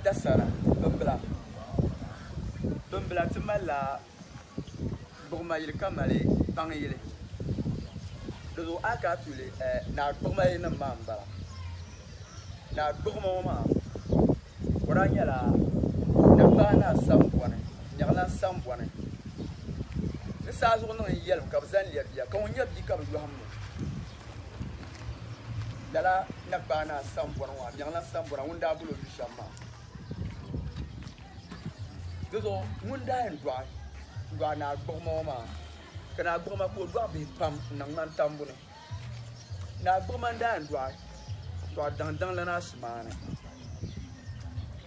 Dasara, Bimbila Bimbila ti mali la gbuɣima yili ka mali kpaŋ yili. Di zuɣu a ka a tuuli naa gbuɣima yili nim maa m-bala. Naa gbuɣima ŋɔ maa o daa nyɛla Nankpaa Naa Sambɔni, Nyɛɣilan Sambɔni. Ni saa zuɣu niŋ n yɛlim ka bɛ zani lɛbi bia ka ŋun nyɛ bia ka bɛ yɔhim ŋɔ. Lala Nagbaanaa sambɔri ŋɔ, Amiɛŋla sambɔra ŋun daa gul o yu shɛm maa. Dizuɣu ŋun daa yɛn dɔɣi dɔɣi Naa Gbuɣima ŋɔ maa, ka Naa Gbuɣima ka o dɔɣi bihi pam n-niŋ ŋmani tambu ni. Naa Gbuɣima n-daa yɛn dɔɣi dɔɣi daŋdaŋ lana Asimaani.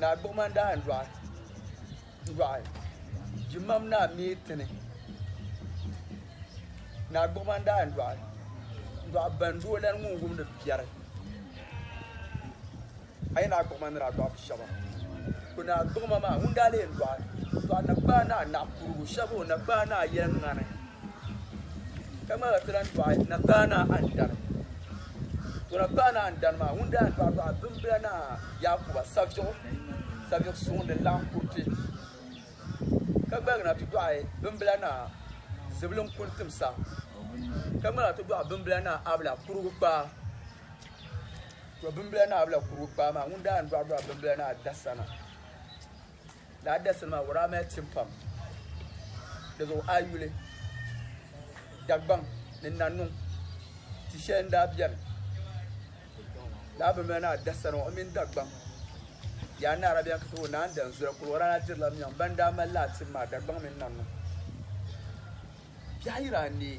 naa gbuɣima n-daa n dɔɣi dɔɣi jimam naa mi tini naa gbuɣima n-daa n dɔɣi dɔɣi ban di o lani ŋun wumdi biɛri a yi naa gbuɣima ni daa dɔɣi bi shɛba ko naa gbuɣima maa ŋun daa lee dɔɣi dɔɣi na kpaa naa naɣ kurugu shɛba o na kpaa naa yɛliŋani ka ŋmaligi ti lan dɔɣi na kpaa naa andani Dɔla paɣa naa n-dani maa, ŋun daa paɣi paɣa bimbila naa Yaakuba saviɣu, saviɣ suŋ din laɣim kuriti, ka gbaligi na ti dɔɣi bimbila naa Zibilin kuli timsa, ka ŋmaligi ti dɔɣi bimbila naa Abla kurugu kpaa. Tɔ bimbila naa Abla kurugu kpaa maa ŋun daa ni dɔɣi dɔɣi bimbila naa Dasana. Laa dasili maa wuraa mali tim pam. Di zuɣu a yi yuli, Dagbaŋ ni Nannuŋ ti shɛli n-daa beni. Laa bi mali naa dasani ŋɔ, o mini Dagbaŋ yaa ni Arabian ka ti wuhi Naan Danzula, kuli wuraa daa dirila miɛŋ ban daa mali laa tim maa, Dagbaŋ mini Nannuŋ. Biɛɣu yiri anii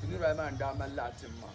Niriba ayi maa n-daa mali laɣitim maa.